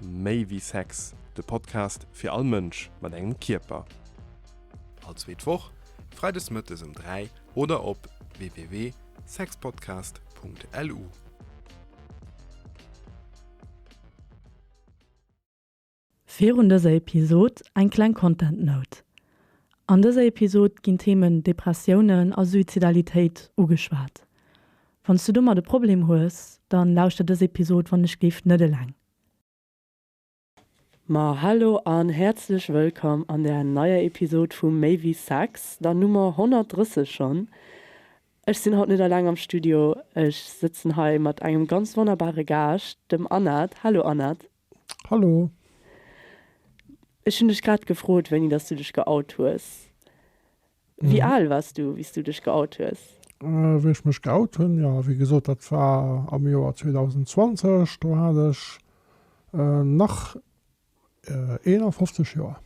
Méi wéi Sex, de Podcast fir all Mënsch mat engem Kierper. All zweet Woch, freides mëttes ëm 3 oder op www.sexpodcast.lu. Virun dëser Episod eng kleng Content Note, An dëser Episod ginn d'Themen Depressiounen a Suizidalitéit ugeschwat. Wanns du domat e Problem hues, dann lauschter dës Episod wann ech géif net eleng. Ma hallo an häerzlech wëllkomm an der neier Episod vu Méi wéi Sex, der Nummer 130 schonn. Ech sinn haut net eleng am Studio, ech sëtzen hei mat engem ganz wonnerbare Gaascht, dem Anat. Hallo Anat. Hallo. Ech hunn dech grad gefrot, wéini dass du dech geout hues. Wéi al wars du, wéi s du dech geout hues? Wéi ech mech geout hunn? Jo, wéi gesot, dat war am Joer 2020. Do hat ech nach 51 Joer.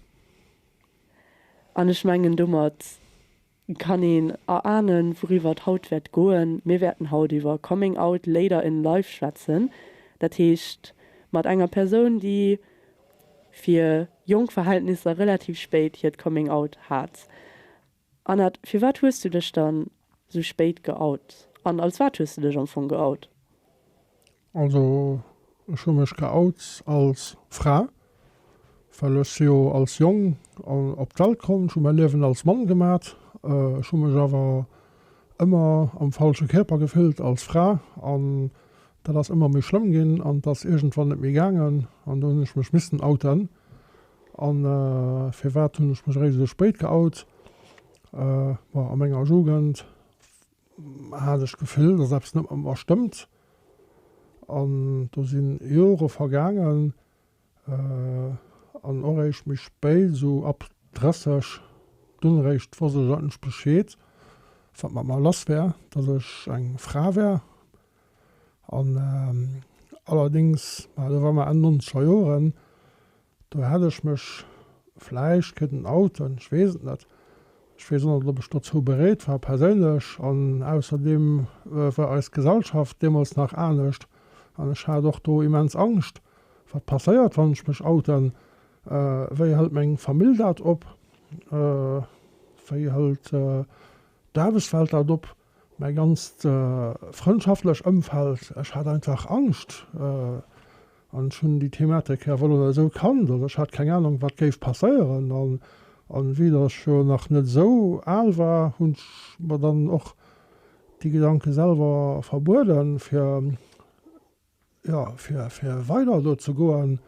An ech mengen, domat kann een erahnen wouriwwer et haut wäert goen. Mir wäerten haut iwwer Coming Out Later in Life schwätzen, dat heescht mat enger Persoun déi fir jonk Verhältnisser relativ spéit hiert Coming Out hat. Anat, firwat hues du dech dann sou spéit geout? An als wat hues du dech am Fong geout? Also ech hu mech geout als Fra, well ech jo als Jong op d'Welt komm. Ech hu mäi Liewen als Mann gemat. Ech hu mech awer ëmmer am falsche Kierper gefillt als Fra an dat ass ëmmer méi schlëmm ginn an et ass iergendwann net méi gaangen an do hunn ech mech missen outen. An firwat hunn ech mech eréischt esou spéit geout? Bon, a menger Jugend hat ech d'Gefill, dass eppes net mat mer stëmmt. An do si Jore vergaangen, an och eréischt méi spéit, esou ab 30, dunn eréischt wosst ech eigentlech Bescheed, wat mat mer lass wär, dass ech eng Fra wär. An allerdéngs, ma do war mer Enn nonzeger Joren, Do hätt ech mech vläicht kënnen outen, ech weess et net. Ech weess och net, ob ech dozou bereet war perséinlech. An ausserdeem war eis Gesellschaft deemools nach anescht an ech hat och do immens Angscht, wat passéiert, wann ech mech outen, wéi hëlt meng Famill dat op, wéi hëlt d'Aarbechtswelt dat op. Mäi ganzt frëndschaftlech Ëmfeld, ech hat einfach Angscht an ech hunn déi Thematik jo wuel oder esou kannt. Also ech hat keng Anung, wat géif passéieren. A wéi datt ech jo nach net esou al war, hunn ech mer dann och déi Gedanke selwer verbueden, fir, jo, fir weider do ze goen.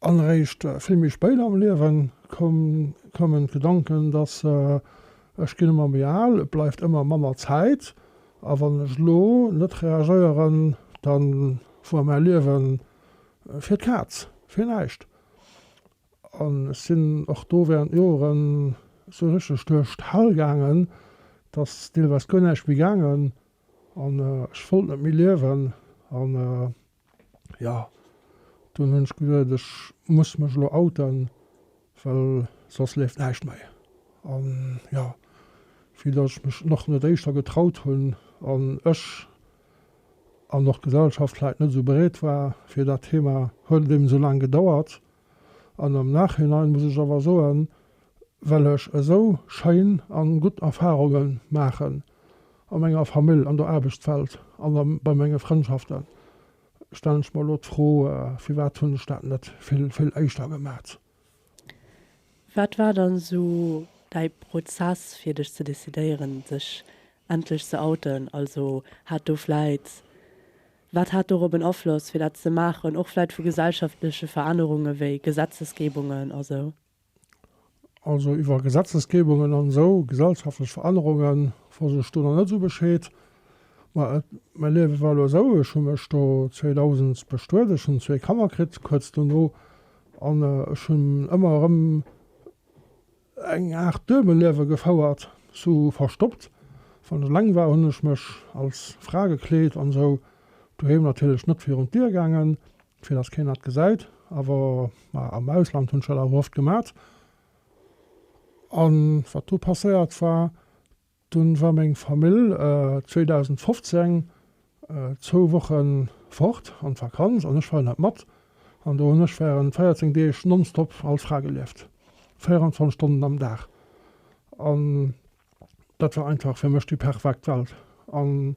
An eréischt vill méi spéit am Liewen koumen d'Gedanken, dass ech ginn ëmmer méi al, et bleift ëmmer manner Zäit a wann ech elo net reagéieren, da woar mäi Liewe fir d'Kaz, fir näischt. An ech sinn och do während Joren esou richteg duerch d'Hell gaangen, dass deelweis guer näischt méi gaangen an ech wollt net méi liewen. Jo, dunn hunn ech gesot, ech muss mech elo outen, well soss leeft näischt méi. An jo, vue datt ech mech och net éischter getraut hunn an ech an och d'Gesellschaft vläit net esou bereet war fir dat Thema, huet et eben esou laang gedauert. An am Nachhinein muss ech awer soen, well ech esou schéin a gutt Erfarunge maachen a menger Famill, an der Aarbechtswelt an a bei menge Frëndschaften, stellen ech mer elo d'Fro, firwat hunn ech dat net vill, vill éischter gemat? Wat war dann esou däi Prozess fir dech ze decidéieren, dech endlech ze outen? Also hat do vläit Wat hat dorop en Afloss, fir dat ze maachen, och vläit vu gesellschaftleche Verännerunge wéi Gesetzesgebungen a sou? Also iwwer Gesetzesgebungen an esou gesellschaftlech Verännerunge wosst ech do nach net esou Bescheed. Ma et, mäi Liewe war elo esou, ech hu mech do 2000 bestuet, ech hunn zwee Kanner kritt kuerz dono an ech hunn ëmmer erëm, Eng Art Duebelliewe gefouert, sou verstoppt. Wann et laang war, hunn ech mech als Fra gekleet an sou doheem natierlech net virun d'Dier gaangen, fir dass keen dat gesäit. Awer ma am Ausland hunn ech dat awer oft gemat. An wat do passéiert war. Dunn war meng Famill 2015 zwou Wochen fort an d'Vakanz an ech war net mat. An do hunn ech während 14 Deeg nonstop als Fra gelieft, 24 Stonnen am Dag. An dat war einfach fir mech déi perfekt Welt. An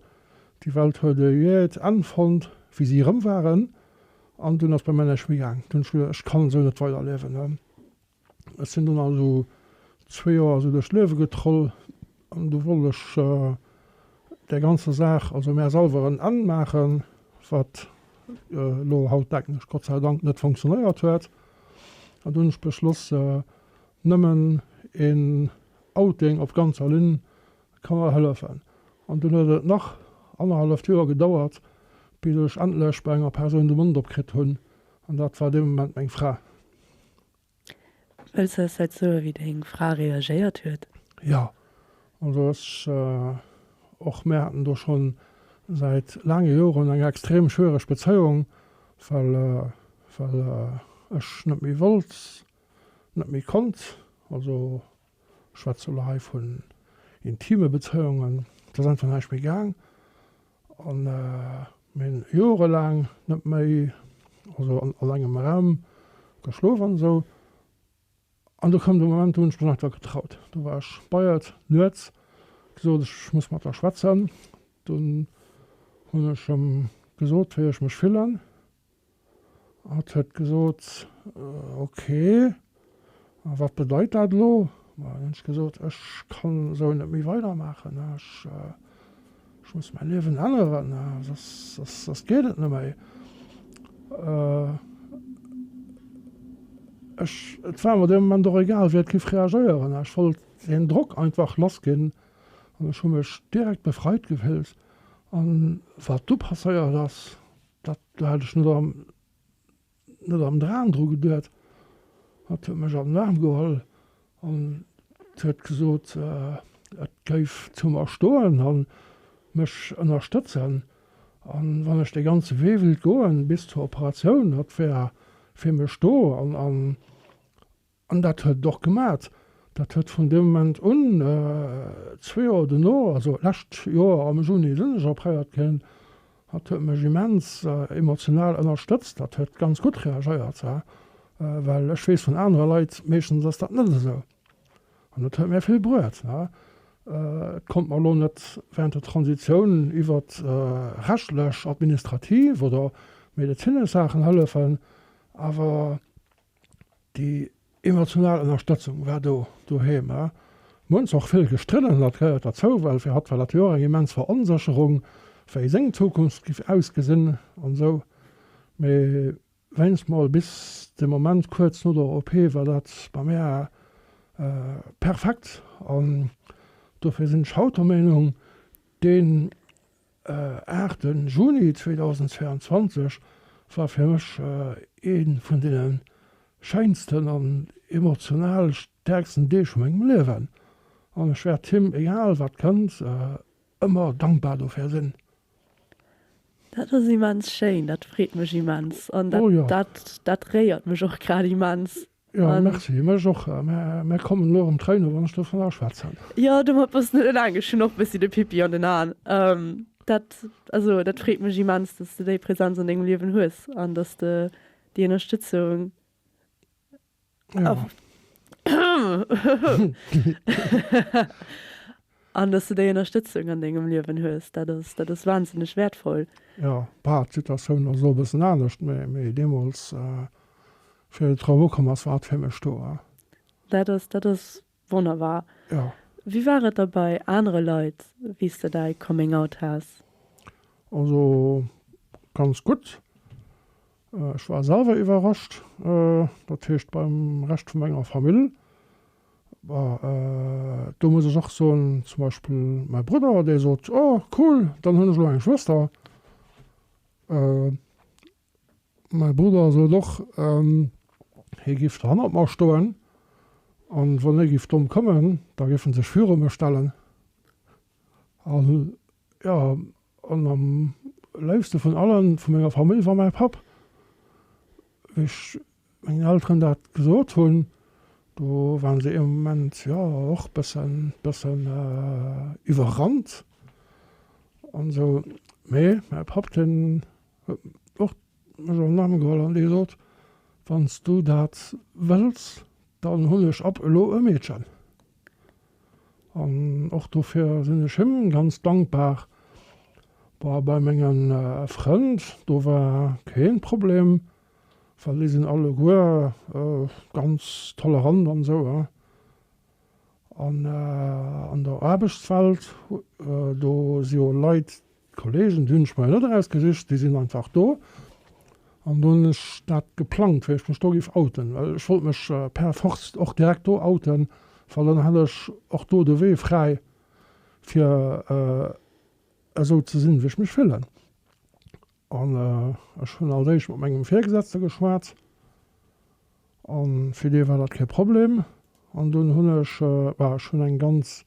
déi Welt huet e jëeet Enn fonnt wéi si erëm waren. An dunn ass bei mär näischt méi gaang. Dunn hunn ech gesot, ech kann esou net weiderliewen. Ech sinn dunn also zwee Joer esou duerch d'Liewe getroll an du wollt ech där ganzer Saach also mär selwer en Enn maachen, wat elo hautdäknesch Gott sei Dank net funktionéiert huet. An du hunn ech beschloss, nëmmen een Outing op ganzer Linn ka mer hëllefen. An dunn huet et nach annerhalleft Joer gedauert, bis ech endlech bei enger Persoun de Mond op kritt hunn, an dat war dee Moment meng Fra. Wëlls du eis dat soe wéi deng Fra reagéiert huet? Jo, also ech, och mär haten do schonn säit laange Joren eng extrem schwiereg Bezéiung, well well ech net méi wollt, net méi konnt, also schwätze lo hei vun intime Bezéiungen, et ass einfach näischt méi gaang an mir hunn jorelaang net méi, also an engem Raum geschlof an esou an do koum de Moment, do hunn ech mech einfach getraut, do war ech beiert nuets, gesot ech muss mat der schwätzen, dunn hunn ech em gesot wéi ech mech fillen. Hatt huet gesot, Ok, a wat bedeit dat elo? Dann hunn ech gesot, Ech kann esou net méi weidermaachen. Ech muss mäi Liewen änneren, soss geet et net méi. Ech, et war mer dee Moment och egal, wéi et géif reagéieren. Ech wollt deen Drock einfach lassginn an ech hu mech direkt befreit gefillt. An wat du passéiert ass, Dat hat ech net am, net am Dram dru geduet. Hatt huet mech an den Aarm geholl an huet gesot, et géif zu mer stoen an mech ënnerstëtzen. An wann ech dee ganze Wee wëllt goen bis zur Operatioun, hatt wär fir mech do. An An dat huet et och gemat. Dat huet vun deem Moment un, zwee Joer duerno, also lescht Joer am Juni sinn ech op Haiert ginn, dat huet mech immens emotional ënnerstëtzt, dat huet ganz gutt reagéiert, well ech weess vun anere Leit, meeschtens ass dat net esou. An et huet mir vill bruet. Et konnt mer elo net wärend der Transitioun iwwer rechtlech, administrativ oder medezinesch Saachen hëllefen, awer. Déi emotional Ënnerstëtzung war do doheem. Mir hunn zwar och vill gestridden, dat gehéiert derzou, well fir hatt war dat jo och eng immens Veronsécherung, wéi seng Zukunft giff ausgesinn an esou, mee wéinst mol bis de Moment kuerz no der OP war dat bei mär perfekt an dofir sinn ech haut der Meenung, deen. Aachten Juni 2022 war fir mech ee vun deene schéinsten an emotional stäerksten Deeg vu mengem Liewen an ech wäert him, egal wat kënnt, ëmmer dankbar dofir sinn. Dat ass immens schéin, dat freet mech immens an dat réiert mech och grad immens. Jo, merci. Mech och. Mär kommen elo erëm Tréine wann ech dovun aschwätzen. Jo, domat bass net eleng. Ech hunn och e bëssi de Pippi an den Aen. Dat, also dat freet mech immens, dass de déi Präsenz an dengem Liewen hues an dass de déi Ënnerstëtzung a. An dass de déi Ënnerstëtzung an dengem Liewen hues, dat ass, dat ass wahnsinneg wäertvoll. Jo, bauh, d'Situatioun ass elo e bëssen anescht, mee, mee deemools, wéi de Trump ukomm ass, war hatt fir mech do, ja. Dat ass, dat ass wonnerbar. Jo. Wéi war et da bei anere Leit, wéi s de däi Coming Out has? Also, ganz gutt. Ech war selwer iwwerrascht, dat heescht beim Rescht vu menger Famill. Do muss ech och soen, zum Beispill mäi Brudder, dee sot, oh cool, dann hunn ech elo eng Schwëster. Mäi Brudder sot och, hie géif do hannert mer stoen an wann hie géif domm kommen, da géif e sech viru mech stellen. Jo, an am léifste vun allen, vu menger Famill, war mäi Papp. Wéi ech mengen Elteren dat gesot hunn, do waren se ee Moment, jo, och bëssen, bëssen iwwerrannt an esou. Mee mäi Papp, deen huet och mech am Aarm geholl an dee gesot, Wann s du dat wëlls, dann hunn ech ab elo e Meedchen. An och dofir sinn ech him ganz dankbar. Bah bei mengen Frënd, do war keen Problem, well déi sinn alleguer ganz tolerant an esou. An an der Aarbechtswelt, do si jo Leit D'Kollegen, déi hunn ech mer jo net erausgesicht, déi sinn einfach do. An do hunn ech dat geplangt, wéi ech mech do géif outen, well ech wollt mech per force och direkt do outen, well dann hätt ech och do de Wee fräi, fir esou ze sinn, wéi ech mech fillen. An ech hunn als éischt mat mengem Virgesetzte geschwat. An fir dee war dat kee Problem. An dunn hunn ech, bah ech hunn eng ganz,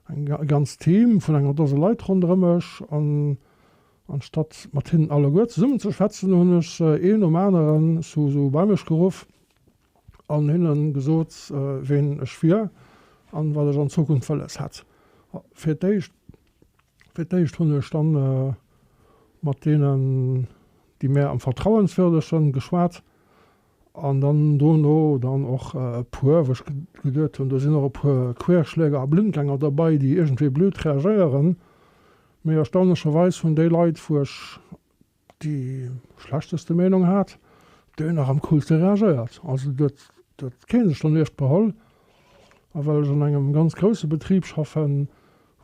eng ganz Team vun enger Dose Leit ronderëm mech. An anstatt mat hinnen alleguer zesummen ze schwätzen, hunn ech se een nom aneren sou sou bei mech geruff an hinnen gesot ween ech wier an wat ech an Zukunft wëlles hätt. Fir d'éischt, fir d'éischt hunn ech dann mat deenen déi mär am vertrauenswürdeschen geschwat. An dann dono dann och e puer, wou ech geduet hunn, do sinn och e puer Querschläger a Blindgänger dobäi, déi iergendwéi blöd reagéieren. Mee erstaunlecherweis hunn déi Leit, wou ech déi schlechteste Meenung hat, déi nach am coolste reagéiert. Also do huet huet kee sech dann Eescht beholl. A well ech an engem ganz grousse Betrib schaffen,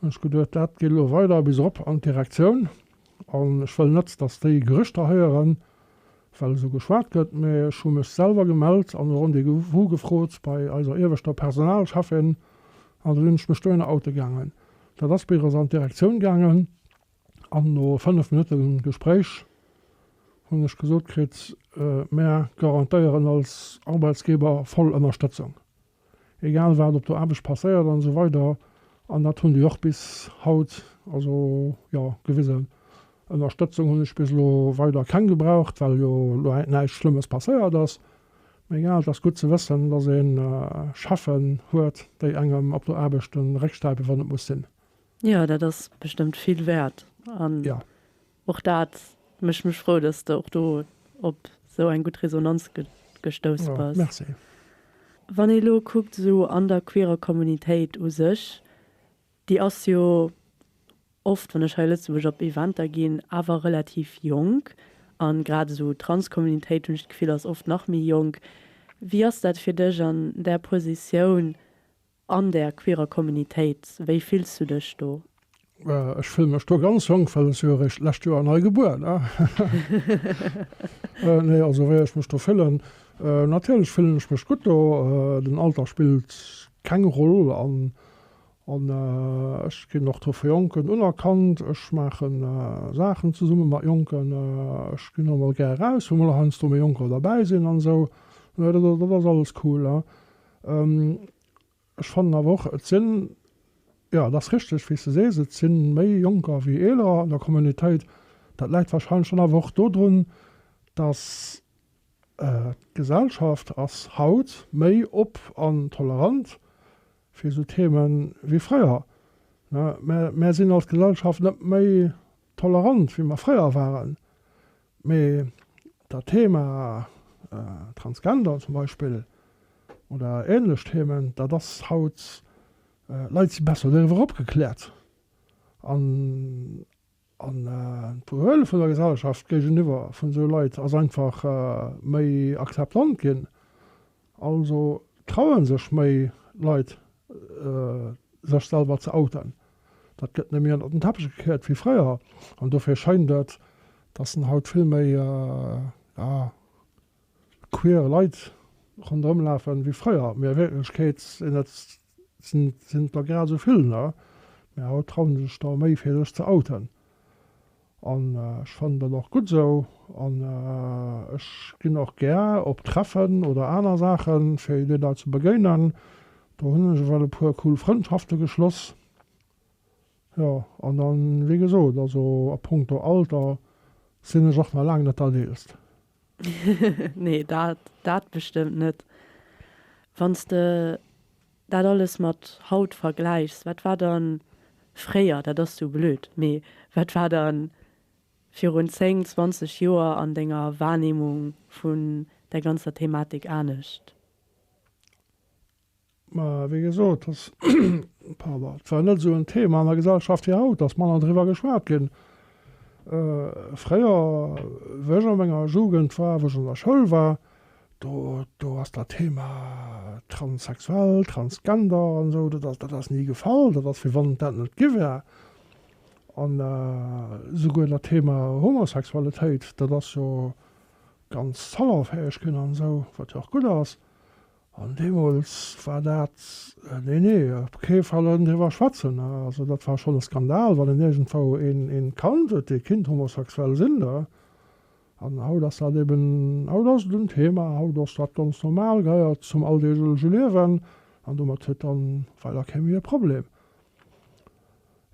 hunn ech geduet, dat geet elo weider bis erop an d'Direktioun. An ech wëll net, datt déi Gerüchter héieren, well esou geschwat gëtt, mä ech hu mech selwer gemellt an e Rendez-vous gefrot bei eiser ieweschter Personalcheffin an da sinn ech mech dohinner oute gaangen. Dat ass bei eis an d'Direktioun gaangen an no fënnef Minutte Gespréich hunn ech gesot kritt, Mär garantéieren als Arbeitsgeber voll Ënnerstëtzung. egal wat op der Aarbecht passéiert an esou weider an dat hunn déi och bis haut also jo gewisen. Ënnerstëtzung hunn ech bis elo weider keng gebraucht, well jo elo näischt Schlëmmes passéiert ass. Mä egal, et ass gutt ze wëssen, dass ee Cheffen huet, déi engem op der Aarbecht de Réck stäipen, wann et muss sinn. Jo, dat ass bestëmmt vill wäert. Och dat mécht mech frou, dass de och do op sou eng gutt Resonanz gestouss bass. Wann ee lo kuckt sou an der queerer Kommunitéit u sech, déi ass jo oft, wann ech hei a Lëtzebuerg op Eventer ginn, awer relativ jonk, a grad esou Transkommunitéit, hunn ech d'Gefill, ass oft nach méi jonk. Wéi ass dat fir dech an där Positioun? An der queerer Communitéit, wéi fills du dech do? Ech fille mech do ganz jonk, well ech si jo eréischt d'lescht Joer nei gebuer, ne? Nee, also wéi ech mech do fillen, natierlech fillen ech mech gutt do. Den Alter spillt keng Roll an ech ginn och do vu Jonken unerkannt. Ech maachen Saachen zesumme mat Jonken, ech ginn och mol gär eraus, wou mol heiansdo méi Jonker derbäi sinn an esou. Dat ass alles cool. Ech fannen awer och, et sinn, jo, et ass richteg, wéi s de sees, et si méi Jonker wéi Eelerer an der Communautéit. Dat läit warscheinlech dann awer och dodrun, dass d'Gesellschaft ass haut méi op an tolerant fir esou Theeme wéi fréier. Mä mär sinn als Gesellschaft net méi tolerant, wéi mer fréier waren. Mee dat Thema Transgender zum Beispill oder ähnlech Themen, dat ass haut, Leit si besser doriwwer opgekläert. An d'Behuele vun der Gesellschaft géigeniwwer vun esou Leit ass einfach méi akzeptant ginn. Also trauen sech méi Leit sech selwer ze outen. Dat gëtt net méi ënnert den Teppech gekéiert wéi fréier an dofir schéint et, datt en haut vill méi ja queer Leit ronderëm lafen wéi fréier, mee a Wierklechkeet sinn et Sinn der grad esou vill, ne? Mee haut trauen se sech da méi fir sech ze outen. An ech fannen dat och gutt esou. An ech ginn och gär op Treffen oder aner Saachen, fir de Leit ze begéinen. Do hunn ech ewell e puer cool Frëndschafte geschloss. Jo, an dann, wéi gesot, also a Punkto Alter sinn ech och nach laang net dat Eelst. Nee, dat, dat bestëmmt net. Wann s de dat alles mat haut vergläichs, wat war dann fréier, dat ass sou blöd, mee wat war dann virun 10, 20 Joer an denger Wahrnehmung vun där ganzer Thematik anescht? Mä wéi gesot, dass, pardon, et war net esou en Thema an der Gesellschaft wéi haut, dass manner driwwer geschwat ginn. Fréier, wéi ech a menger Jugend war, wou ech an der Schoul war, do, do ass dat Thema transsexuell, transgender an esou, dat ass, dat ass ni gefall, dat ass wéi wann et dat net gi wär. An esouguer dat Thema Homosexualitéit, dat ass jo ganz salonfäeg ginn an esou, wat jo och gutt ass. An deemools war dat, nee, nee, op kee Fall ënnen driwwer schwätzen. Also dat war schonn e Skandal, wann een iergendwou ee Kand huet, dee kinnt homosexuell sinn. Da, an haut ass dat eben, haut ass et en Thema, haut ass dat ganz normal, gehéiert zum alldeeglege Liewen an domat huet dann weider kee méi e Problem.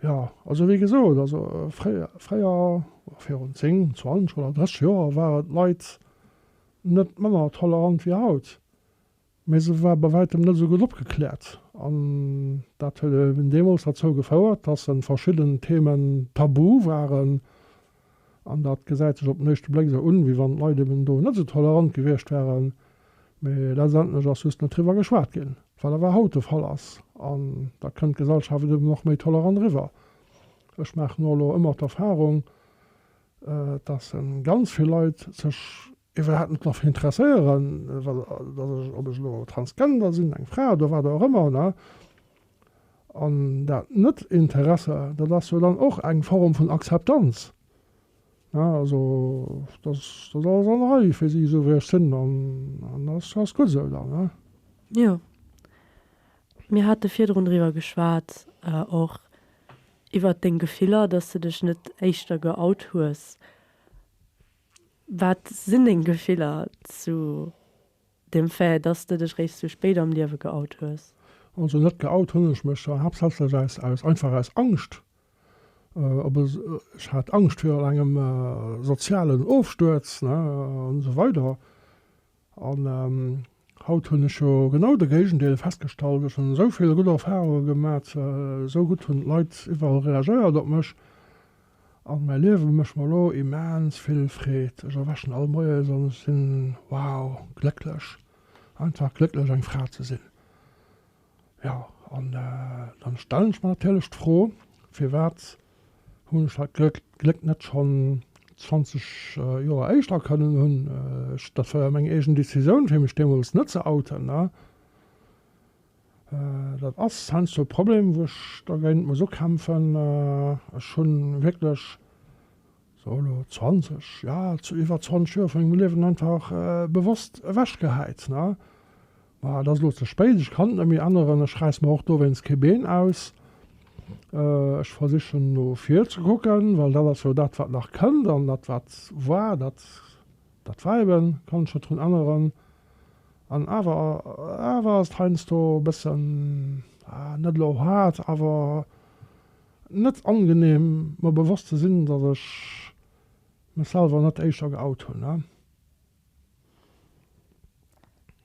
Jo, also wéi gesot, also fréier, fréier, virun 10, 20 oder 30 Joer, war et Leit, net manner tolerant wéi haut, mä se war bei wäitem net esou gutt opgekläert. An dat huet eben deemools derzou gefouert, dass en verschidden Themen tabu waren. An dat gesäit sech op den éischte Bléck esou un, wéi wann d'Leit eben do net esou tolerant gewiescht waren, mä letztendlech ass just net driwwer geschwat ginn, wat awer haut de Fall ass. An da kënnt d'Gesellschaft eben och méi tolerant eriwwer. Ech maachen och elo ëmmer d'Erfahrung, dass ganz vill Leit sech iwwerhaapt net dofir interesséieren, dass ech, ob ech elo Transgender sinn, eng Fra oder wat och ëmmer, ne? An dat Net-Interesse, dat ass jo dann och eng Form vun Akzeptanz, ne? Also, dass dat alles an der Rei fir si, esou wéi ech sinn, an dat ass gutt esou dann, ne? Jo. Mir hate virdrun driwwer geschwat och, Iwwert deng Gefiller, dass de dech net éischter geout hues. Wat sinn deng Gefiller zu dem Fait, dass de dech réischt sou spéit am Liewe geout hues? Also net geout hunn ech mech haaptsächlech aus, aus, einfach aus Angscht. Op e, ech hat Angscht virun engem sozialen Ofstuerz, ne, an esou weider. An haut hunn ech jo genau de Géigendeel festgestallt. Ech hunn esou vill gutt Erfarunge gemat, esou gutt hunn d'Leit iwwerall reagéiert op mech an mäi Liewe mécht mer elo immens vill Freed. Ech erwächen all Moies an ech sinn, wow, glécklech, einfach glécklech eng Fra ze sinn. Jo, an dann stellen ech mer natierlech d'Fro, firwat hunn ech dat Gléck net schonn 20 Joer éischter kënnen hunn? Ech, dat war jo meng eegen Decisioun fir mech deemools net ze outen, ne? Dat ass heiansdo e Problem, wou ech dergéint muss ukämpfen. Ech hu wierklech, so elo 20, ja iwwer 20 Joer vu mengem Liewen einfach bewosst ewechgehäit, ne? Mä et ass elo ze spéit, ech kann et net méi änneren. Ech räiss mer och dowéinst kee Been aus. Ech versichen no vir ze kucken, well dat ass jo dat, wat nach kënnt. An dat, wat war, dat, dat war eben, kann ech net drun änneren. An awer, awer ass et heiansdo e bëssen, net elo haart, awer net angenehm, mer bewosst ze sinn, datt ech mech selwer net éischter geout hunn.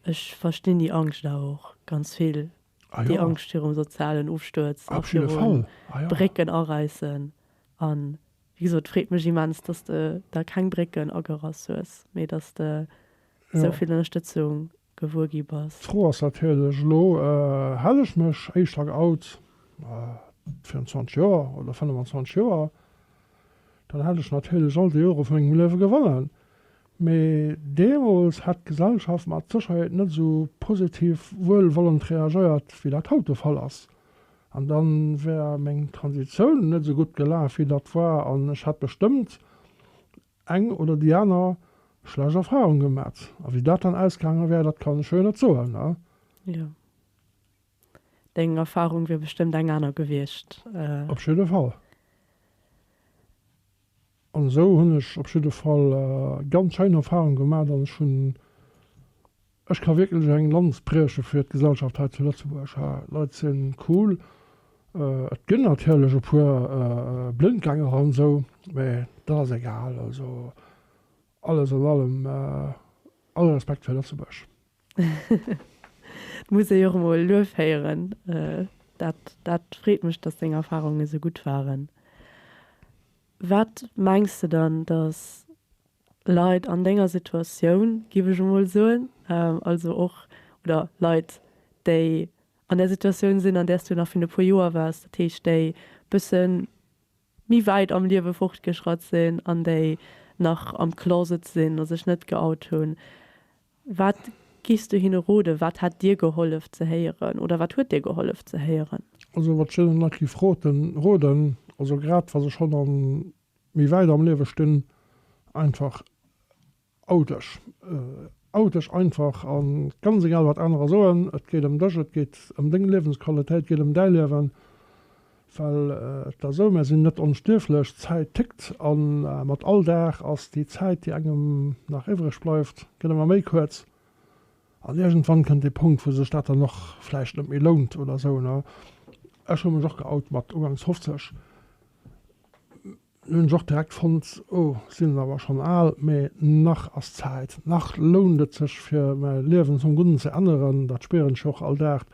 Ech verstinn déi Angscht awer och ganz vill, déi Angscht virum sozialen Ofstuerz a virum Brécken aräissen. A wéi gesot, et freet mech immens, datt s de der keng Brécken agerass hues, mee datt s de esou vill Ënnerstëtzung. gewuer gi bass. D'Fro ass natierlech, elo hale ech mech éischter an Out, 24 Joer oder 25 Joer, dann hätt ech natierlech all déi Jore vu mengem Liewe gewonnen. Mee deemools hätt d'Gesellschaft mat Sécherheet net esou positiv wuelwollend reagéiert, wéi dat haut de Fall ass. An da wär meng Transitioun net esou gutt gelaf, wéi dat war, an ech hätt bestëmmt eng oder déi aner schlecht Erfahrung gemat. A wéi dat dann ausgaange wär, dat kann ech jo net soen, ne? Jo. Deng Erfahrung wier bestëmmt eng aner gewiescht. Op jidde Fall. An esou hunn ech op jidde Fall ganz schéin Erfahrung gemat an ech hunn Ech ka wierklech eng Lanz brieche fir d'Gesellschaft hei zu Lëtzebuerg. Hâ, Leit sin cool. Et gin natierlech e puer Blindgänger an esou, mä dat ass egal. Also alles an allem all Respekt fir Lëtzebuerg. Et muss ee jo och emol Luef héieren. Dat dat freet mech, dass deng Erfarunge sou gutt waren. Wat mengs de dann, dass Leit an denger Situatioun, giff ech emol soen, also och, oder Leit, déi an där Situatioun sinn, an där s du nach viru e puer Joer waars, dat heescht, déi bësse méi wäit am Liewe fortgeschratt sinn an déi nach am Closet sinn a sech net geout hunn, wat giffs du hinne roden? Wat hätt dir gehollef ze héieren oder wat huet dir gehollef ze héieren? Also wat ech deenen Leit giff roden, also grad wa se schonn an méi wäit am Liewe stinn, einfach ou dech, ou dech einfach a ganz egal wat anerer soen, et geet ëm dech, et geet ëm deng Liewensqualitéit, et geet ëm däi Liewen, well et ass esou, mär sinn net onstierflech, d'Zäit tickt a mat all Dag ass déi Zäit déi engem nach iwwreg bleift gëtt ëmmer méi kuerz an iergendwann kënnt dee Punkt wou sech dat dann och vläicht net méi lount oder esou. Ech hu mech och geout mat ugangs 50, Lo hunn ech och direkt fonnt, oh, sinn et awer schonn al, mee nach ass Zäit, nach lount et sech fir mäi Liewen zum Gudden ze änneren. Dat spieren ech jo och all Dag,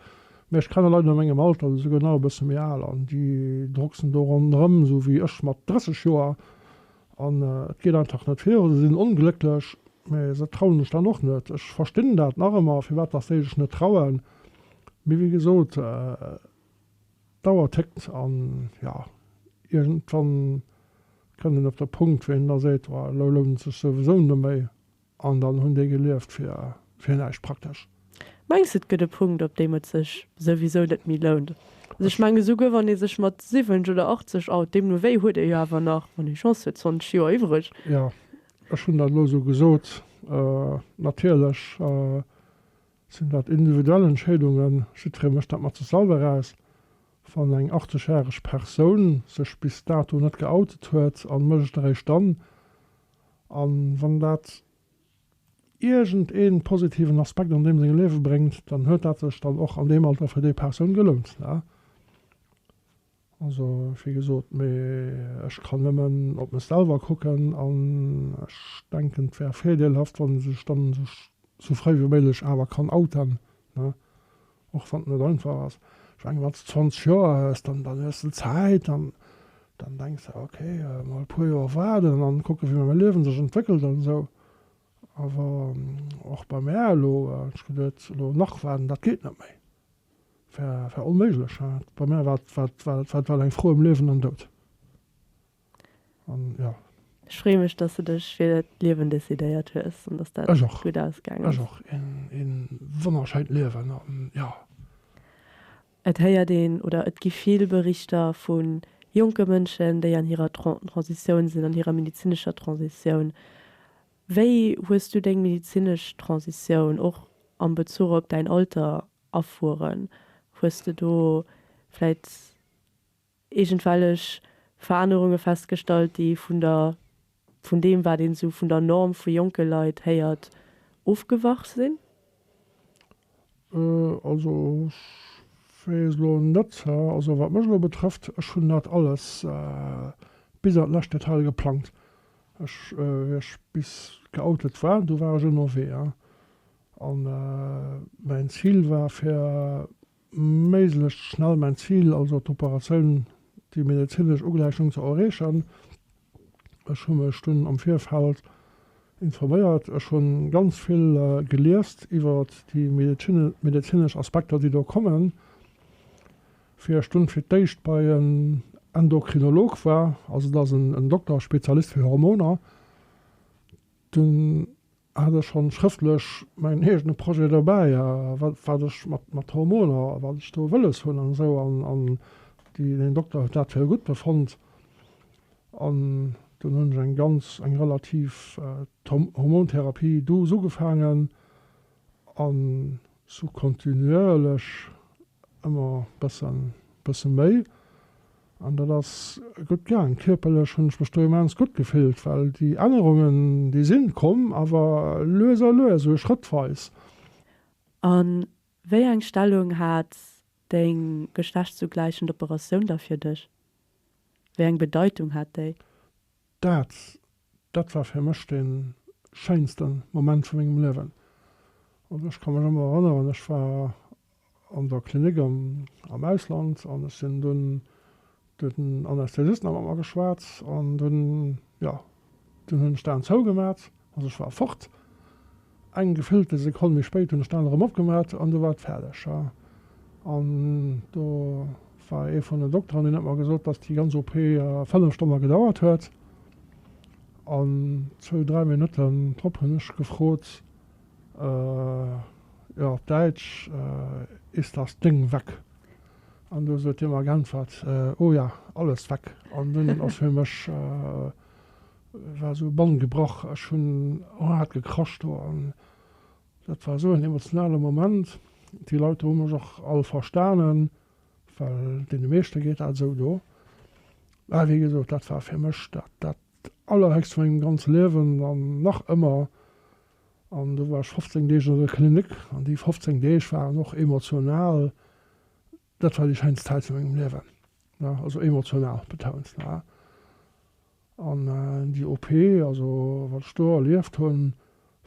mee ech kenne Leit a mengem Alter oder souguer nach e bësse méi al an déi drucksen do ronderëm, esou wéi ech mat 30 Joer, an et geet einfach net vir oder se sinn onglécklech, mee se trauen sech dann och net. Ech verstinn dat nach ëmmer, firwat dass déi sech net trauen, mee wéi gesot, D'Auer téckt an jo, iergendwann kënnt een op de Punkt, wou een da seet, oh, elo lount et sech souwisou net méi an dann hunn déi gelieft fir, fir näischt praktesch. Mengs de, et gëtt e Punkt, op deem et sech souwisou net méi lount? Also ech mengen, esouguer wann ee sech mat 70 oder 80 out, deemno wéi huet ee jo awer nach, wann ee Chance huet, 20 Joer iwwreg. Jo, ech hunn dat elo esou gesot. Natierlech Sinn dat individuell Entscheedungen? Jiddweree mécht dat mat sech selwer aus. Wann eng 80 järeg Persoun sech bis dato net geoutet huet a mécht et eréischt dann, a wann dat iergend ee positiven Aspekt an deem sengem Liewe bréngt, dann huet dat sech dann och an deem Alter fir déi Persoun gelount. Also wéi gesot, mee ech kann nëmmen op mech selwer kucken an ech denken et wär virdeelhaft wann ee sech dann sech sou fréi wéi méiglech awer kann outen, ne, och wann et net einfach ass. Ech mengen wann s de 20 Joer hues, dann dann hues de Zäit an dann denks de ok mol e puer Joer waarden an kucke wéi mäi Liewen sech entwéckelt an esou. Awer och bei mär elo hunn ech geduet elo nach waarden, dat geet net méi. war onméiglech. Bei mär war et war eng Fro ëm Liewen an Doud. An jo. Ech freeë mech, dass de dech fir d'Liewen decidéiert hues an dass dat gutt ausgaang ass. Ech och. Ee wonnerschéint Liewen an jo. Et héiert een oder et gi vill Berichter vu jonke Mënschen, déi an hirer Transitioun sinn, an hirer medezinescher Transitioun. Wéi hues du deng medizinesch Transitioun, och am Bezuch op däin Alter, erfueren? Hues de do vläit iergendwellech Verännerunge festgestallt, déi vun der, vun deem wat een esou vun der Norm vu jonke Leit héiert, ofgewach sinn? Also ech weess elo net, also wat mech elo betrëfft, ech hunn dat alles bis an d'lescht Detail geplangt. Ech, wéi ech bis geoutet war, du war ech ënnerwee an mäin Zil war fir méiglechst schnell mäin Zil, also d'Operatioun, déi medezinesch Ugläichung ze erreechen. Ech hu mech dunn am Virfeld informéiert. Ech hunn ganz vill geliest iwwer déi medezinesch Aspekter, déi do kommen. Wéi ech dunn fir d'éischt bei en Endokrinolog war, also dat ass en Dokter, Spezialist fir Hormoner, dunn Hat ech schonn schrëftlech mäin eegene Projet dobäi a wat ech mat Hormoner a wat ech do wëlles hunn an esou an deen Dokter huet dat fir gutt befonnt an dunn hunn ech eng ganz eng relativ Hormontherapie douce ugefaangen an sou kontinuierlech ëmmer bëssen méi. An dat ass gutt gaang. Kierperlech hunn ech mech do immens gutt gefillt, well déi Ännerungen, déi sinn komm, awer lues a lues, esou schrëttweis. A wéi eng Stellung hat deng geschlechtsougläichend Operatioun da fir dech? Wéi eng Bedeitung hat déi? Daatz, dat war fir mech den schéinsten Moment vu mengem Liewen. Also ech kann mech emmer erënneren, ech war an der Klinik am Ausland an ech sin dun den Anästhesisten emmer emmer geschwaatz an dun, jo, dun hun ech d'Aan zou gemaat. Also ech war fort. Eng gefüllte Sekonn méi spéit hunn ech d'Aen erëm opgemaach an du war et fäerdeg, jo. An do war ee vun den Dokter an deen huet mer gesot, dass déi ganz OP fënnef Stonne gedauert huet. An zwou, dräi Minutten drop hunn ech gefrot, jo op Däitsch, Ist das Ding weg? An du huet hie mer geäntwert, Oh ja, alles weg. An dunn ass fir mech War esou e Bann gebrach, ech hunn hârt gekrascht do an dat war esou en emotionale Moment. Déi Leit do hu mech och all verstanen, well deene meeschte geet dat esou do. Mä wéi gesot, dat war fir mech dat dat Allerhéchst vu mengem ganze Liewen an nach ëmmer. An do war ech 15 Deeg an der Klinik an déi 15 Deeg waren och emotional Dat war déi scheinst Zäit vu mengem Liewen, also emotional betount. An déi OP, also wat ech do erlieft hunn,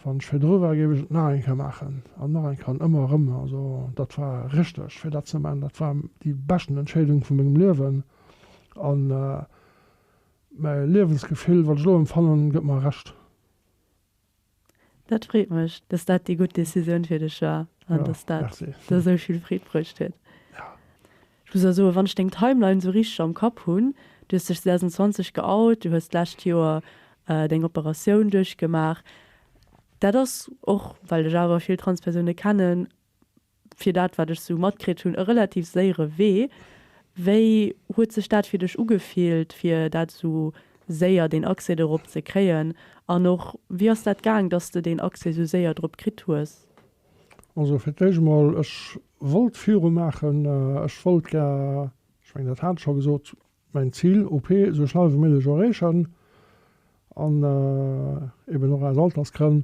wann ech virdru war, géif ech et nach eng Kéier maachen an nach eng Kéier an ëmmer erëm. Also dat war richteg fir dat ze man. Dat war déi beschten Entscheedung vu mengem Liewen an mäi Liewensgefill, wat ech elo empfannen, gëtt mer Recht. Dat freet mech, dass dat déi gutt Decisioun fir dech war an dass dat der esou vill Freed bruecht huet. Ech muss awer soen, wann ech deng Timeline esou richteg am Kapp hunn, du hues dech 2020 geout, du hues d'lescht Joer deng Operatioun duerchgemaach, dat ass och, well ech awer vill Transpersoune kennen, fir dat wat ech sou matkritt hunn, e relativ séiere Wee. Wéi huet sech dat fir dech ugefillt, fir dat sou séier deen Accès dorop ze kréien? An och wéi ass dat gaang, dass de deen Accès sou séier drop kritt hues? Also fir d'éischt emol, ech wollt viru maachen, ech wollt gär, ech mengen dat hat ech scho gesot, mäin Zil OP esou schnell ewéi méiglech erreechen an eeben och aus Altersgrënn,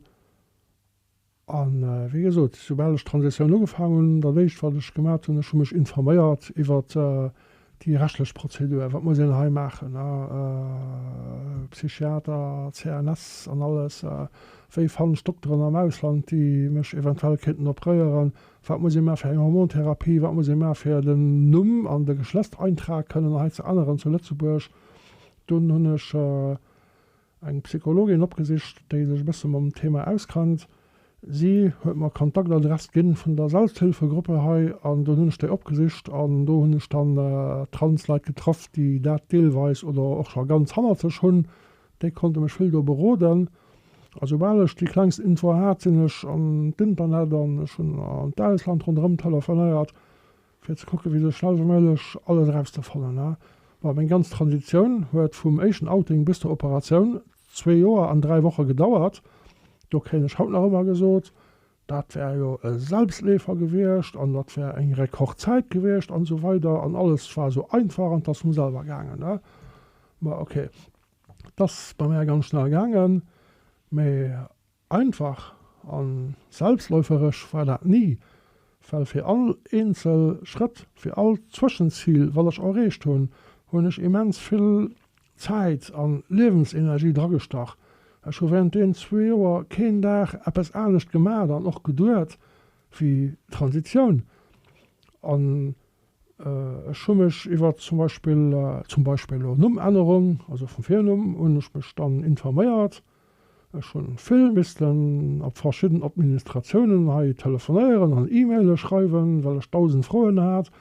A wéi gesot, esoubal ech d'Transitioun ugefaangen hunn, dat Éischt wat ech gemat hunn, ech hu mech informéiert iwwer déi rechtlech Prozedur, wat muss een hei maachen, Psychiater, CNS an alles, wéi fannen ech Dokteren am Ausland, déi mech eventuell kéinten opréieren, wat muss ee maachen fir eng Hormontherapie, wat muss ee maachen fir den Numm an de Geschlechtseintrag kënnen hei ze änneren zu Lëtzebuerg. Dunn hunn ech. Eng Psychologin opgesicht, déi sech e bësse mam Thema auskannt. Si huet mer d'Kontaktadress ginn vun der Selbsthilfegruppe hei an dunn hunn ech déi opgesicht an do hunn ech dann Transleit getraff, déi dat deelweis oder och scho ganz hannert sech hunn. Déi konnte mech vill do beroden. A soubal ech déi klengst Info hat, sinn ech an d'Internet an ech hunn an d'Ausland ronderëm telefonéiert. fir ze kucken, wéi se schnellweméiglech alles erauszefannen, ne? Well meng ganz Transitioun huet vum éischten Outing bis zur Operatioun zwee Joer an dräi Woche gedauert. Do kréien ech haut nach ëmmer gesot, dat wär jo e Selbstleefer gewiescht an dat wär eng Rekordzäit gewiescht an esou weider an alles war esou einfach an et ass vum selwer gaangen, ne? Ma ok, et ass bei mär ganz schnell gaangen, mee Einfach a selbstläuferesch war dat ni, well fir all eenzel Schrëtt, fir all Zwëschenzil, wat ech erreecht hunn, hunn ech immens vill Zäit a Liewensenergie dragestach. Ech hu während deenen zwee Joer keen Dag eppes anescht gemaach an och geduet wéi Transitioun. An ech hu mech iwwer zum Beispill, zum Beispill elo Nummännerung, also vum Virnumm hunn ech mech dann informéiert, Ech hunn vill missten op verschidden Administratiounen hei telefonéieren an E-Maile schreiwen, well ech dausend Froen hat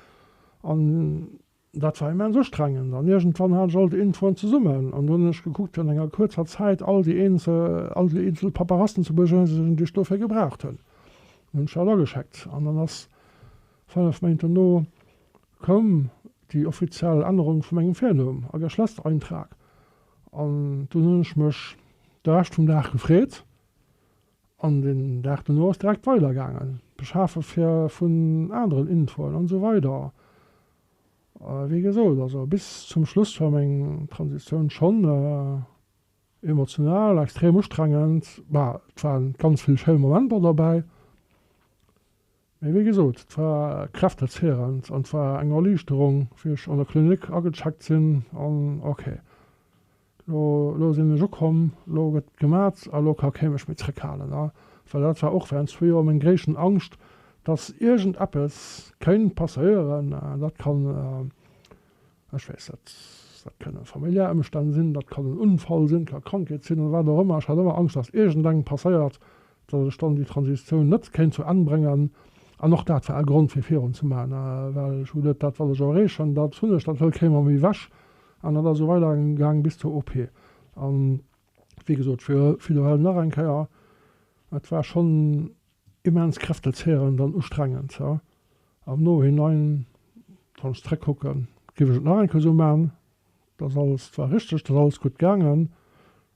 an dat war immens ustrengend an iergendwann hat ech all déi Infoen zesummen an do hunn ech gekuckt fir an enger kuerzer Zäit all déi eenzel Paperassen ze bejeisigen, déi ech dofir gebraucht hunn. Dann hunn ech dat agescheckt an dann ass fënnef Méint dono koum déi offiziell Ännerung vu mengem Virnumm a Geschlechtereintrag An dunn hunn ech mech de Rescht vum Dag gefreet an den Dag dono ass direkt weider gaangen. D'Beschafe vun aneren Infoen an esou weider. Wéi gesot, also bis zum Schluss war meng Transitioun schonn emotional extrem ustrengend. Bah, et waren ganz vill schéin Momenter derbäi. Mee wéi gesot, et war kräftezehrend an et war eng Erliichterung, wéi ech an der Klinik agecheckt sinn an ok, lo lo sinn ech ukomm, lo gëtt gemat a lo ka kee mech méi zréckhalen. A well dat war och während zwee Joer meng gréissten Angscht, dass iergendeppes kéint passéieren, dat kann Ech weess net, dat kënnen familiär Ëmstänn sinn, dat kann en Unfall sinn, dat ka Krankheet sinn oder wat och ëmmer. Ech hat ëmmer Angscht, datt iergendeng passéiert, datt ech dann déi Transitioun net kéint zu Enn bréngen. An och dat war e Grond fir virun ze maachen, well ech wullt, dat wat ech erreechen, dat hunn ech, dat wëll kee mam ewech. An dat ass esou weidergaang bis zur OP. An, wéi gesot, fir ewell nach eng Kéier, et war schonn Immens kräftezehrend an ustrengend, ja. Am Nohinein, wann ech zréckkucken, géif ech et nach eng Kéier esou maachen. Et ass alles zwar richteg, et ass alles gutt gaangen,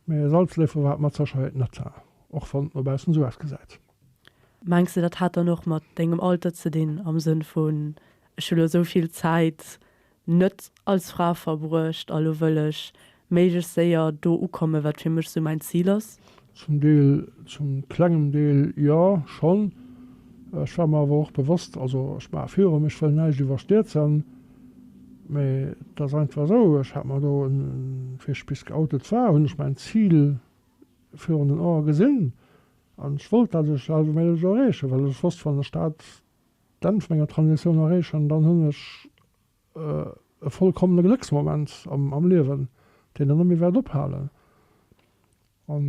mä e Salzleefer war et mat Sécherheet net, och wann et no baussen esou ausgesäit. Mengs de, dat hätt dann och mat dengem Alter ze dinn, am Sënn vun, ech hu lo esou vill Zäit, net als Fra verbruecht a lo wëll ech méiglechst séier do ukommen, wat fir mech sou mäin Zil ass. Zum Deel, zum klengem Deel jo schonn. Ech war mer awer och bewosst, also ech maache virum, ech wëll näischt iwwerstierzen, mä et ass einfach esou, ech hat mer do en, wéi ech bis geoutet war, hunn ech mäin Zil virun den Ae gesinn an ech wollt dat, ech hat et wéilt ech och erreechen, well ech wosst, wann ech dat D'Enn vun enger Transitioun erreechen, dann hunn ech e vollkommene Glëcksmoment am Liewen, deen ech net méi wäert ophalen. An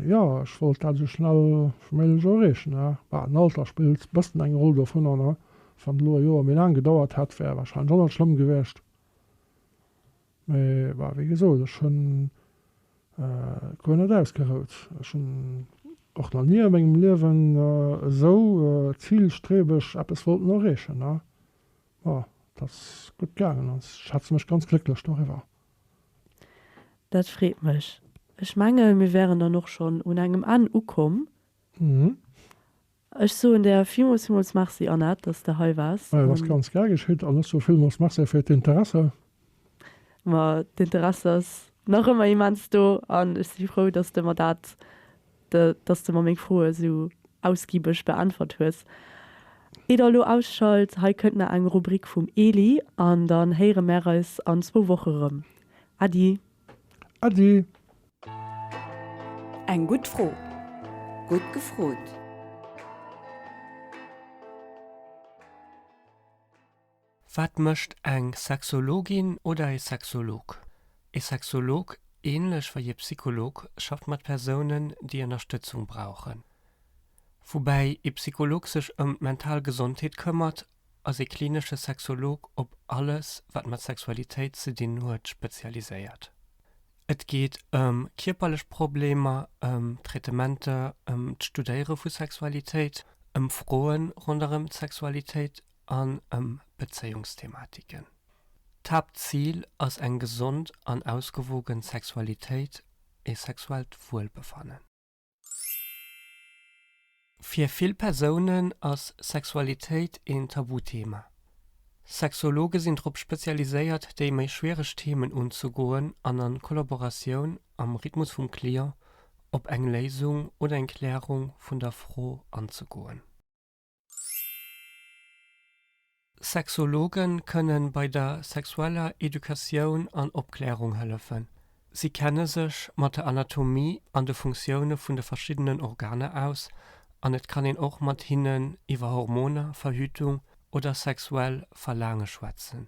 jo, ech wollt dat esou schnell wéi méiglech och erreechen. Mä den Alter spillt e bëssen eng Roll dovunner. Wann et elo e Joer méi laang gedauert hätt, wär wahrscheinlech och net schlëmm gewiescht. Mä bah, wéi gesot, ech hunn guer net ausgerout. Ech hunn och nach ni a mengem Liewen esou zilstrebeg eppes wollten erreechen. Mä et ass gutt gaangen an ech schätze mech ganz glécklech doriwwer. Dat freet mech. Ech menge mir wären dann och schonn un engem Enn ukomm. Ech soen der villmools villmools Merci, Annette, dass s de hei waars. Et ass ganz gär geschitt an ech soe villmools Merci fir d'Interesse. Ma d'Interesse ass nach ëmmer immens do an ech si frou, dass s de mer dat, dass s de mer meng Froe esou ausgibeg beäntwert hues. Ier der elo ausschalt, hei kënnt nach eng Rubrik vum Eli an dann héiere mär eis an zwou Woche rëm. Äddi! Ade! Eng gutt Fro, gutt gefrot. Wat mécht eng Sexologin oder e Sexolog? E Sexolog, änlech wei e Psycholog, schafft mat Persounen, déi Ënnerstëtzung brauchen. Woubäi e Psycholog sech ëm d'mental Gesondheet këmmert ass ee klinesche Sexolog op alles, wat mat Sexualitéit ze dinn huet, spezialiséiert. Et geet ëm kierperlech Problemer, ëm Traitementer, ëm d'Studéiere vu Sexualitéit, ëm Froe ronderëm d'Sexualitéit an ëm Bezéiungsthematiken. D'Haaptzil ass eng gesond an ausgewogen Sexualitéit, ee sexuellt Wuelbefannen. Fir vill Persounen ass Sexualitéit een Tabuthema. Sexologe sinn drop spezialiséiert, déi méi schwiereg Themen unzegoen an a Kollaboratioun am Rhythmus vum Client op eng Léisung oder eng Klärung vun der Fro anzegoen. Sexologe kënne bei der sexueller Educatioun an Opklärung hëllefen. Si kenne sech mat der Anatomie an de Funktioune vun de verschiddenen Organer aus an et kann een och mat hinnen iwwer Hormoner, Verhütung oder sexuell Verlaange schwätzen.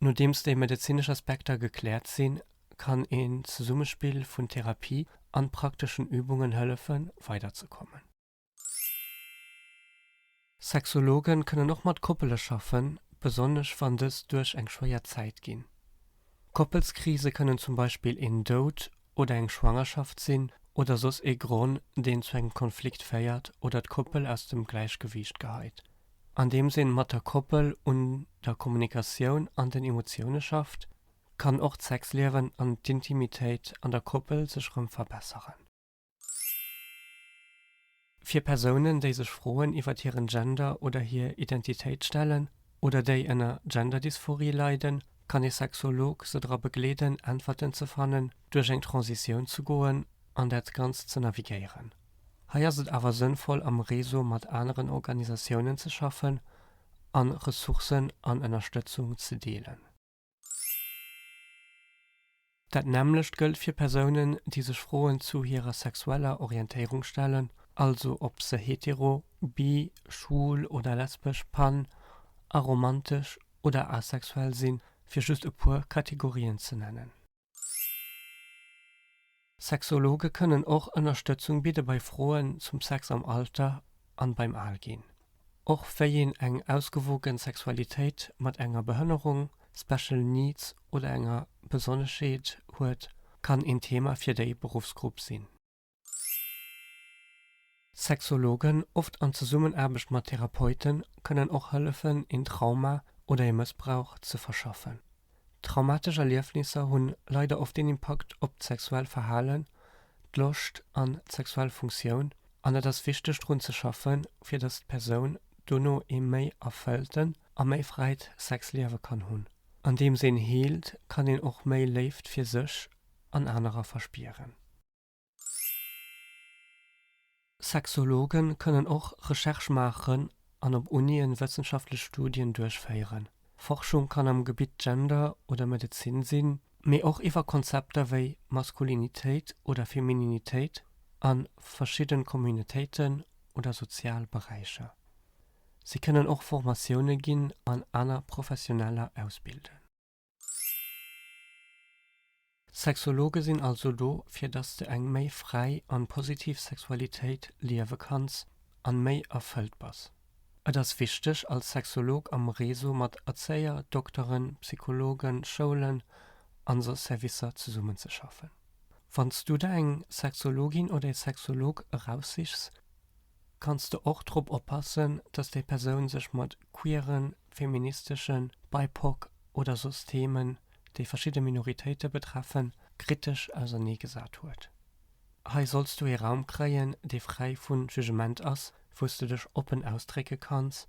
Nodeems déi medezinesch Aspekter gekläert sinn, kann een Zesummespill vun Therapie an prakteschen Übungen hëllefen weider ze kommen. Sexologen kënnen och mat Koppele schaffen, besonnesch wann dës duerch eng schwéier Zäit ginn. Koppelskrise kënnen zum Beispill een Doud oder eng Schwangerschaft sinn oder soss ee Gronn, deen zu engem Konflikt féiert oder d'Koppel aus dem Gläichgewiicht geheit. Andeems een mat der Koppel un der Kommunikatioun an den Emotioune schafft, kann och d'Sexliewen an d'Intimitéit an der Koppel sech rëm verbesseren. Fir Persounen, déi sech Froen iwwert hiren Gender oder hir Identitéit stellen oder déi ënner Gender-Dysphorie leiden, kann ee Sexolog se dra begleeden, Äntwerten ze fannen, duerch eng Transitioun ze goen an dat Ganzt ze navigéieren. Hei ass et awer sënnvoll, am Réseau mat aneren Organisatiounen ze schaffen a Ressourcen an Ënnerstëtzung ze deelen. Dat nämmlecht gëllt fir Persounen, déi sech Froen zu hirer sexueller Orientéierung stellen, also ob se hetero, bi, schwul oder lesbesch, pan, aromantesch oder asexuell sinn, fir just e puer Kategorien ze nennen. Sexologe kënnen och Ënnerstëtzung bidde bei Froen zum Sex am Alter an beim Alginn. Och wéi een eng ausgewogen Sexualitéit mat enger Behënnerung, Special Needs oder enger Besonneschheet huet, kann een Thema fir déi Beruffsgrupp sinn. Sexologen, oft an Zesummenaarbecht mat Therapeuten, kënnen och hëllefen een Trauma oder ee Mëssbrauch ze verschaffen. Traumatesch Erliefnisser hunn leider oft een Impakt op d'sexuell Verhalen, d'Loscht an d'sexuell Funktioun an et ass wichteg drun ze schaffen, fir datt d'Persoun dono ee méi erfëllten a méi fräit Sexliewe kann hunn. Andeems een heelt, kann een och méi Léift fir sech an anerer verspieren. Sexologe kënnen och Recherche maachen an op Unien wëssenschaftlech Studien duerchféieren. Forschung kann am Gebitt Gender oder Medezin sinn, mee och iwwer Konzepter wéi Maskulinitéit oder Femininitéit a verschidde Communautéiten oder sozial Beräicher. Si kënnen och Formatioune ginn an aner Professioneller ausbilden. Sexologe sinn also do fir dass de eng méi fräi an positiv Sexualitéit liewe kanns an méi erfëllt bass. Et ass wichteg als Sexolog am Réseau mat Erzéier, Dokteren, Psychologen, Schoulen an sou Servicer zesummen ze schaffen. Wanns du der eng Sexologin oder ee Sexolog eraussichs, kanns de och drop oppassen, dass déi Persoun sech mat queeren, feministeschen, BIPOC oder soss Themen, déi verschidde Minoritéite betreffen, kritesch auserneegesat huet. Hei solls du ee Raum kréien, dee fräi vu Jugement ass, wou s de dech oppen ausdrécke kanns,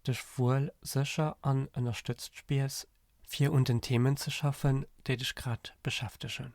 dech wuel, sécher an ënnerstëtzt spiers, fir un den Themen ze schaffen, déi dech grad beschäftegen.